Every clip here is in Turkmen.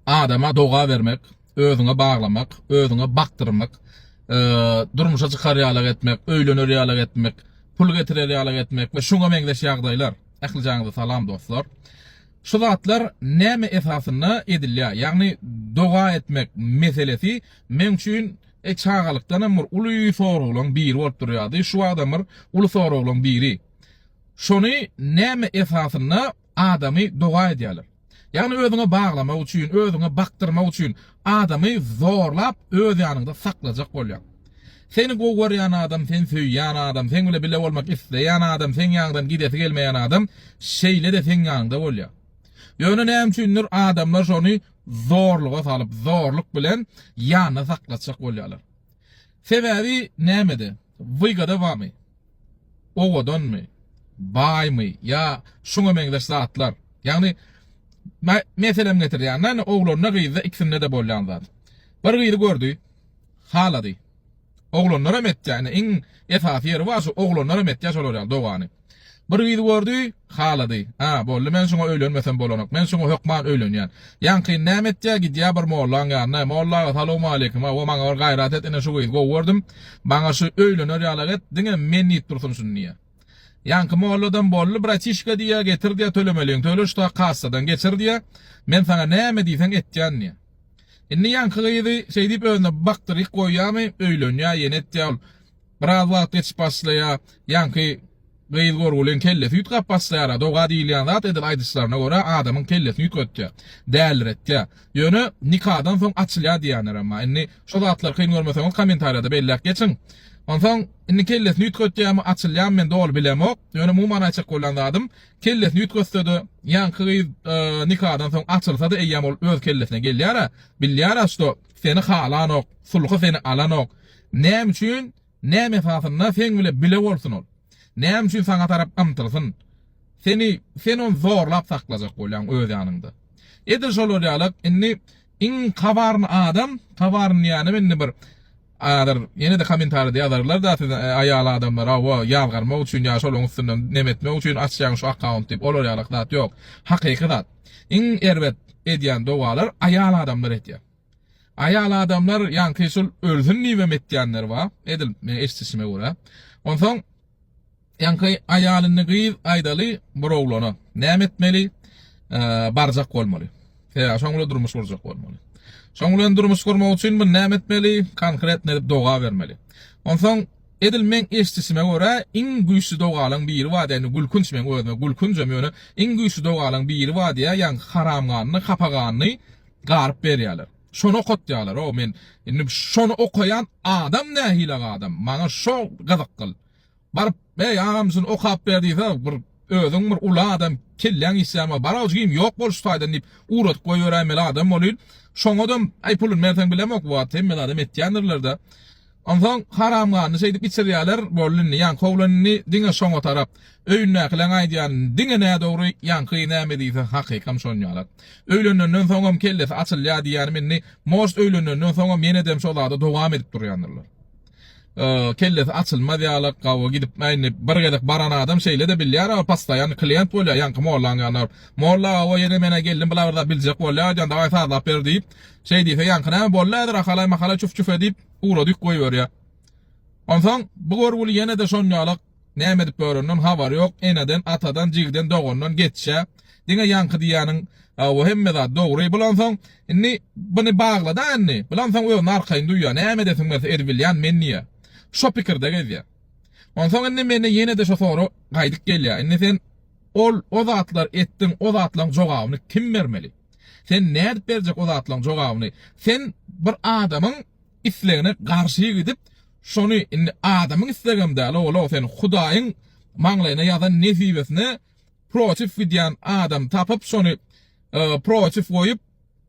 adama doga bermek, özüňe baglamak, özüňe bakdyrmak, e, durmuşa çykar ýalak etmek, öýlener ýalak etmek, pul getirer ýalak etmek we şuňa meňzeş ýagdaýlar. Ählijaňyza salam dostlar. Şu zatlar näme esasynda edilýär? Ýagny doga etmek meselesi meň üçin e, çagalykdan hem bir uly soraglaryň biri bolup durýardy. Şu wagtam bir uly soraglaryň biri. Şony näme esasynda adamy doga edýärler. Ýagny özüňe baglamak üçin, özüňe bakdyrmak üçin adamy zorlap öz ýanyňda saklajak bolýar. Seni gowy görýän adam, sen söýýän adam, seň bilen bile bolmak isleýän adam, seň ýaňydan gidesi gelmeýän adam şeýle-de seň ýanyňda bolýar. Ýöne näme üçindir adamlar şony zorluga salyp, zorluk bilen ýanynda saklatjak bolýarlar. Sebäbi nämede? Wygada bamy? Owadanmy? Baýmy? Ýa şuňa meňzeş zatlar? Ýagny meselem getirýän-de indi oglanda gyzda ikisinde-de bolýan zat. Bir gyzy gördi, halady. Oglanlar hem etýär, indi iň esasy ýeri bar şu oglanlar hem etýär şolar ýaly dogany. Bir gyzy gördi, halady. A, boldy, men şuňa öýlenmesem bolanok. Men şuňa hökman öýlenýän. Ýaňkyn näme etýär, gidýär bir mollaň ýanyna. Molla aga, salowmaleýkim, hawa, maňa bir gaýrat et, ine, şu gyzy gowy gördüm. Maňa şu öýlener ýalak et, diňe men diýip dursun şuny, diýýär. Ýaňky molladam, boldy, bratişka, diýýär, getir, diýýär, tölemeligiňi töle, şu ta kassadan geçir, diýýär. Men saňa näme diýseň etýän, diýýär. Indi ýaňky gyzy şeýdip özüne bakdyryk goýýarmy, öýlenýär, ýene etýär ol. Biraz wagt geçip başlaýar. Ýaňky gyz görgüliň kellesi üýtgäp başlaýar-a. Doga diýilýän zat edil aýdyşlaryna görä adamyň kellesini üýtgetýär. Däliretýär. Ýöne nikadan soň açylýar diýýänlerem-a. Indi şo zatlary kyn görmeseňiz kommentariýada belläp geçiň. Onsoň indi kellesini üýtgetýärmi, açylýarmy men doly bilemok. Ýöne umuman aýtjak bolan zadym, kellesini üýtgetse-de ýaňky gyz nikadan soň açylsa-da eýýäm ol öz kellesine gelýär-ä, bilýär-ä, şo seni halanok, sulhy seni alanok. Näme üçin, näme esasynda seň bile bile bolsun ol? Näme üçin saňa tarap ymtylsyn? Seni, sen ony zorlap saklajak bolýaň öz ýanyňda. Edil şol bolýarlyk, indi iň kabarny adam, kabarny diýýänim indi bir adyr, ýene-de kommentaride ýazarlar-da siz aýal adamlar, hawa, ýazgarmak üçin ýa şolaryň üstünden neme etmek üçin açýaň şu akkaunt diýip, olar ýalyk zat ýok. Hakyky zat. Iň erbet edýän dogalar aýal adamlar edýär. Aýal adamlar ýaňky şul ölsün diýibem etýänler bar, edil meň eşdişime görä. Onsoň ýaňky aýalyny gyz aýdaly bir oglana näme etmeli? Barjak bolmaly. Sebäbi şoň bilen durmuş gurjak bolmaly. Şoň bilen durmuş gurmak üçin bu näme etmeli? Konkretno edip doga bermeli. Onsoň edil meň eşdişime görä iň güýçli dogalaň biri bar diýýär. Indi gülkünç meň özüme gülkünjem ýöne iň güýçli dogalaň biri bar diýýär. Ýaňky haramganyny, hapaganny Garyp berýäler. Şony okatýalar o men indi şony okaýan adam nähilak adam maňa şo gyzyk gyl baryp eý agam şuny okap ber diýse bir özüň bir uly adam kelläň işýärmi barag jigim ýok bol şu taýdan diýip ugradyp goýberäýmeli adam bolýn şoňadam aý pulun berseň bilemok bu wagt hemme zada metýändirlerde Onsoň haramganyny şeýdip içirýärler, boldy indi, ýaňky oglan indi diňe şoňa tarap. Öýündäkileň aýdýan diňe nädogry, ýaňky näme diýse hakykam şony ýalak. Öýlenenden soňam kellesi açylýar diýýänim indi, most öýlenenden soňam ýenedem şo zada dowam edip durýandyrlar. Kellesi açylmaz ýalak, gawy gidip, indi bir gezek baran adam şeýle-de bilýär, postoýanny klient bolýar, ýaňky mollaň ýanyna baryp, Molla, gawa ýene men-ä geldim, bulabyr zat biljek bolýar, aýdýan, daway sazlap ber diýip, Şeý diýse, ýaňky näme boldy häzir, ahalaý-mahalay çuf-çuf-e diýip, ugradyp goýberýär. Onsoň bu görgüli ýene-de şonýalyk näme edip ýöreninden habary ýok, eneden, atadan, jigiden, dogandan geçýä. Diňe ýaňky diýýäniň, Hawa, hemme zat dogry. Bulansoň, indi buny bagla-da indi. Bulansoň özüni arkaýyn duýýar. Näme edesiň berse edibilýän men diýýär. Şo pikirde gezýär. Onsoň indi mende ýene-de şo sorag gaýdyp gelýär. Indi sen ol, o zatlar etdiň, o zatlaryň jogabyny kim bermeli? Sen nädip berjek o zatlaryň jogabyny? Sen bir adamyň islegine garşy gidip, şony indi adamyň islegem däl ogul-ow, sen Hudaýyň maňlaýyna ýazan nesibesine protiw gidýän adamy tapyp, şony protiw goýup,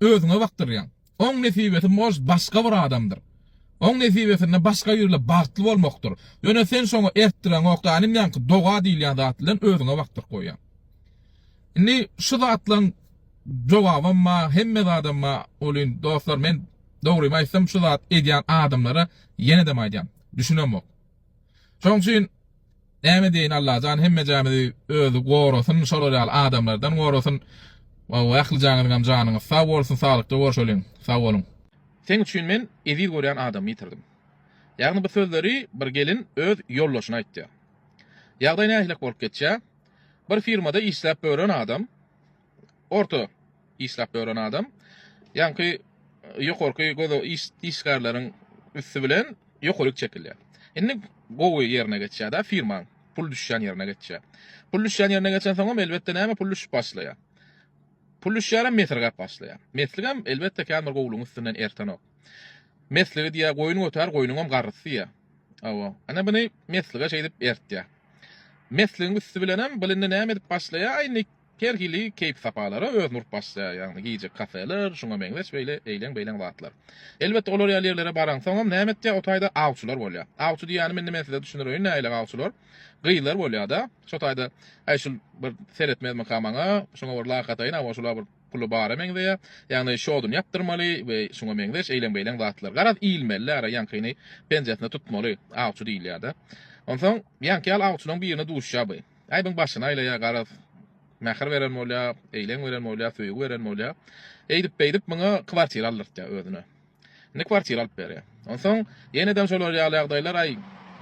özüňe bakdyrýaň. Oň nesibesi mož başga bir adamdyr. Oň nesibesinde başga birle bagtly bolmakdyr. Ýöne sen şoňa ertdireňok ganym ýaňky doga diýilýän zat bilen özüňe bakdyryp goýýaň. Indi şu zatlaň jogabam ba hemme zadam ba olin dostlar men dogrymy aýtsam şu zat edýän adamlara ýenedem aýdýan düşünemok. Şoň üçin Näme diýeýin Allajan hemmejämizi özi gorasyn şolar ýaly adamlardan gorasyn Waww ählijaňyzyňam janyňyz sag bolsun saglykda görşeliň sag boluň. Seň üçin men eziz görýän adamymy ýitirdim. Ýagny bu sözleri bir gelin öz ýoldaşyna aýtýar. Ýagdaý nähilek bolup geçýär? Bir firmada işläp bören adam. orta işläp ýören adam ýaňky ýokarky goda işgärleriň üsti bilen ýokaryk çekilýär. Indi gowy ýerine geçýär-de firmaň, pul düşýän ýerine geçýär. Pul düşýän ýerine geçensoňam elbetde näme pul düşüp başlaýar. Pul düşýärem mesirgäp başlaýar. Mesligem elbetde kän bir gowulygyň üstünden ertenok. Mesligi diýýär, goýun götär, goýnuňam garrysy diýýär. Hawa, ana muny meslige şeýdip ertýär. Mesligiň üsti bilenem bu indi näme edip başlaýar, indi Her hili keýp-sapalara özüni urup başlaýar, ýagny gije kafeler, şuňa meňzeş beýle eýleň-beýleň zatlar. Elbetde, olar ýaly ýerlere baraňsoňam, näme etýär, o taýda awçylar bolýar. Awçy diýýänim indi men size düşündireýin, nähili awçylar. Gyzlar bolýar-da, şo taýda, Äý, şul bir seretmezmika maňa, şuňa bir lak ataýyn, hawa, şul-a bir puly bara meňzeýär, ýagny şoduny ýapdyrmaly we şuňa meňzeş eýleň-beýleň zatlar. Garaz, ilmeli-le, ara ýaňkyny penjesine tutmaly, awçy diýilýär-de. Onsoň, ýaňky ýaly awçylaryň birine duşýar bu. Aýbyň başyny aýlaýar garaz. Mähir beren bolýar, eýleň beren bolýar, söýgi beren bolýar. Eýdip-beýdip muňa kwartira aldyrtýar özüne. Indi kwartira alyp berýär. Onsoň ýenedem şolar ýaly ýagdaýlar, aý,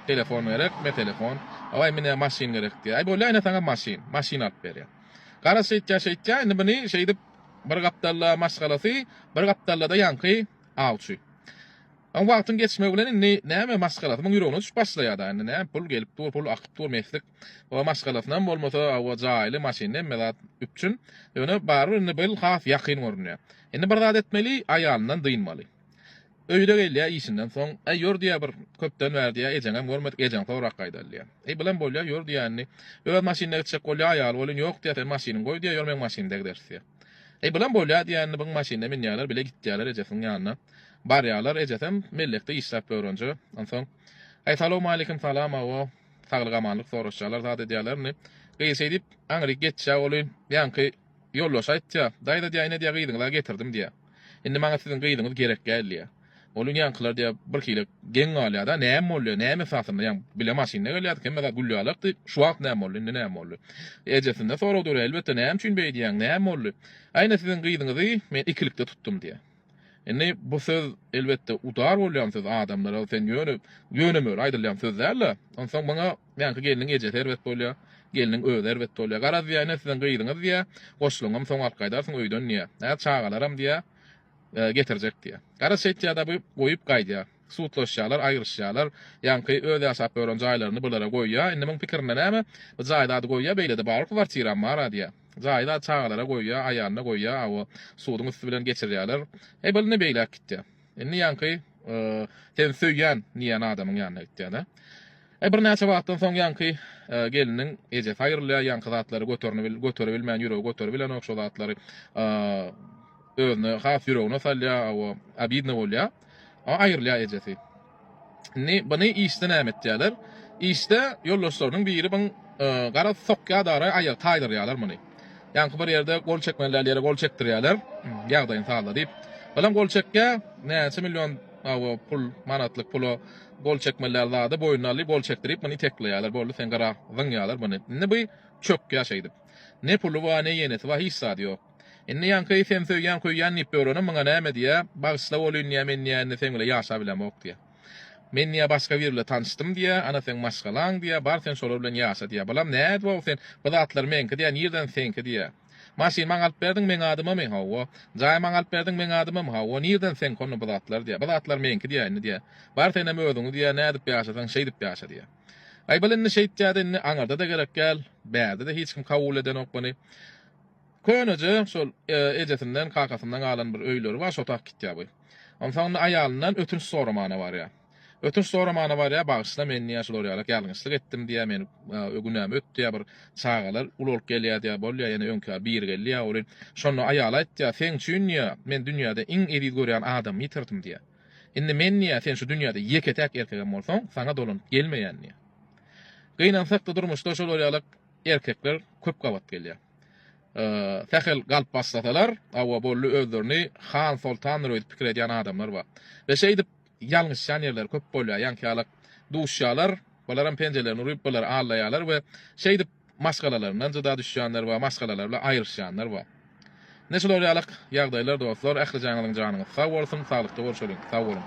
telefon gerek, me telefon, aý, menä maşyn gerek diýýär. Aý, bolýar, ine saňa maşyn. Maşyn alyp berýär. Garaz şeýtýär, şeýtýär, indi muny şeýdip bir gapdalda maşgalasy, bir gapdalda-da ýaňky awçy. A wagtyň geçmegi bilen indi näme maşgalasy muň ýüregine düşüp başlaýada indi nä pul gelip dur pul akyp dur meslik o maşgalasynam bolmasa o jaýly maşynly hemme zat üpjün ýöne barybir indi bil has ýakyn görünýä indi bir zat etmeli aýalyndan dynmaly öýüne gelýä işinden soň äý ýör diýä bir köpden bäri diýä ejeňem görmedik ejeň sorag gaýdal diýä äý bilen bolýa ýör diýä indi öz maşynynda gitjek bolýa aýaly welin ýok diýä sen maşynyň goý diýä ýör meň maşynymda gideris diýä. Eý, bulam bolýa diýýänini byň maşynyna münýärler, bile gitýärler ejesiniň ýanyna. Barýarlar, ejesem mellekde işläp börünje. Onsoň, Eý, salawmaleýkim, salam, awo, saglyk-amanlyk soraşýarlar, zat edýärler indi. Gyz şeý diýip, aňryk geçýä oly, ýaňky ýoldaşy aýtýa, Daýza diýýä, ine diýýä, gyzyňyz-a getirdim diýýä. Indi maňa siziň gyzyňyz gerekgäl diýýä. Ol indi ýaňkylar diýýär, birhili geň galýar-da, näme bolýar, näme esasynda, ýaňy bile maşynda gelýärdik, hemme zat gül ýalakdy, şu wagt näme boldy, indi näme boldy? Ejesinde sorag dörär, elbetde, näme üçin beýdýäň, näme boldy? Aýna siziň gyzyňyzy men ikilikde tutdum diýýär. Indi bu söz, elbetde, udar bolýan söz adamlara, sen ýöne, ýöne-möre aýdylýan söz däl-de. Onsoň muňa ýaňky gelniň ejesi erbet bolýar, gelniň özi erbet bolýar. Garaz, diýýär, ine siziň gyzyňyz diýýär, goşlaňam soň alyp gaýdarsyň öýden diýýär. Hä, çagalaram diýýär. getirjek diýýär. Garaz şeýtýä-da bu goýup gaýdýar. Sudlaşýarlar, aýryşýarlar. Ýaňky öz ýaşap ýören jaýlaryny bulara goýýar. Indi muň pikirinde näme? Bu jaý zady goýýar beýlede barybir kwartiram bar-a diýýär. Jaý zady çagalara goýýar, aýalyna goýýar, awa, suduň üsti bilen geçirýärler. Eý bul indi beýläk gitýär. Indi ýaňky sen söýýän diýýän adamyň ýanyna gitýär-de. Birnäçe wagtdan soň ýaňky gelniň ejesi aýrylýar, ýaňky zatlary göteribilmän ýüregi göteribilenok, şo zatlary özüne has ýüregine salýar, hawa, obidno bolýar. Aýrylýar ejesi. Indi buny işde näme etýärler? Işde ýoldaşlarynyň biri buň gara sokýar dagry, aýagy taýdyrýarlar muny. Ýaňky bir ýerde gol çekmeli däl ýere gol çekdirýärler, ýagdaýyny sazla diýip. Bilen gol çekýär, näçe million, hawa, pul, manatlyk pula Gol çekmeliler zady boýnuna aly gol çekdirip muny iteklaýalar boldy sen gara zyňýalar muny indi by çökýa şeýdip ne puly ba ne ýenesi ba hiç zady ýok indi ýaňky sen söýýän köýýän diýip öwrene muňa näme diýä bagyşla bolyn diýä men diýä indi sen bile ýaşa bilemok diýä men diýä başga bir bile tanyşdym diýä ana sen maşgalaň diýä bar sen şolar bilen ýaşa diýä balam nädip ow sen bu zatlar meňki diýä nirden senki diýä. Maşyn maňa alyp berdiň meň adymamy, hawa. Jaý maňa alyp berdiň meň adymamy, hawa. Nirden seň hony bu zatlar diýýär. Bu zatlar meňki diýýär indi diýýär. Bar senem özüňi diýýär, nädip ýaşasaň şeýdip ýaşa diýýär. Aýbal indi şeýtýär-de indi aňyrda-da gerek däl, bärde-de hiç kim kabul edenok muny. Köneje şol ejesinden, kakasyndan galan bir öýleri bar, şo tak gitýär bu. Onsoň indi aýalyndan ötünç soramana barýar. Ötünç soramana barýa bagyşla men diýýä şular ýalak ýalňyşlyk etdim diýýä men günäm öt diýýä bir çagalar uly bolup gelýä diýýä bolýa ýene öňki ýaly biri gelýä oly şonda aýaly aýtýa seň üçin diýýä men dünýäde iň eziz görýän adamy ýitirdim diýýä indi men diýýä sen şu dünýäde ýeke täk erkegem bolsaň saňa dolanyp gelmeýän diýýä gynansakda durmuşda şolar ýalak erkekler köp gabat gelýä sähel galp başlasalar awa boldy özlerini han soltandyr öýdüp pikir edýän adamlar bar we şeýdip Ýalňyşýan ýerleri köp bolýar, ýaňky ýaly duşýarlar, bularam penjelerini uryp, bular allaýarlar we şeýdip maşgalalaryndan jyda düşýänler bar, maşgalalary bilen aýryşýanlar bar. Ine şular ýaly ýagdaýlar dostlar, ählijaňyzyň janyňyz sag bolsun, saglykda görşeliň, sag boluň!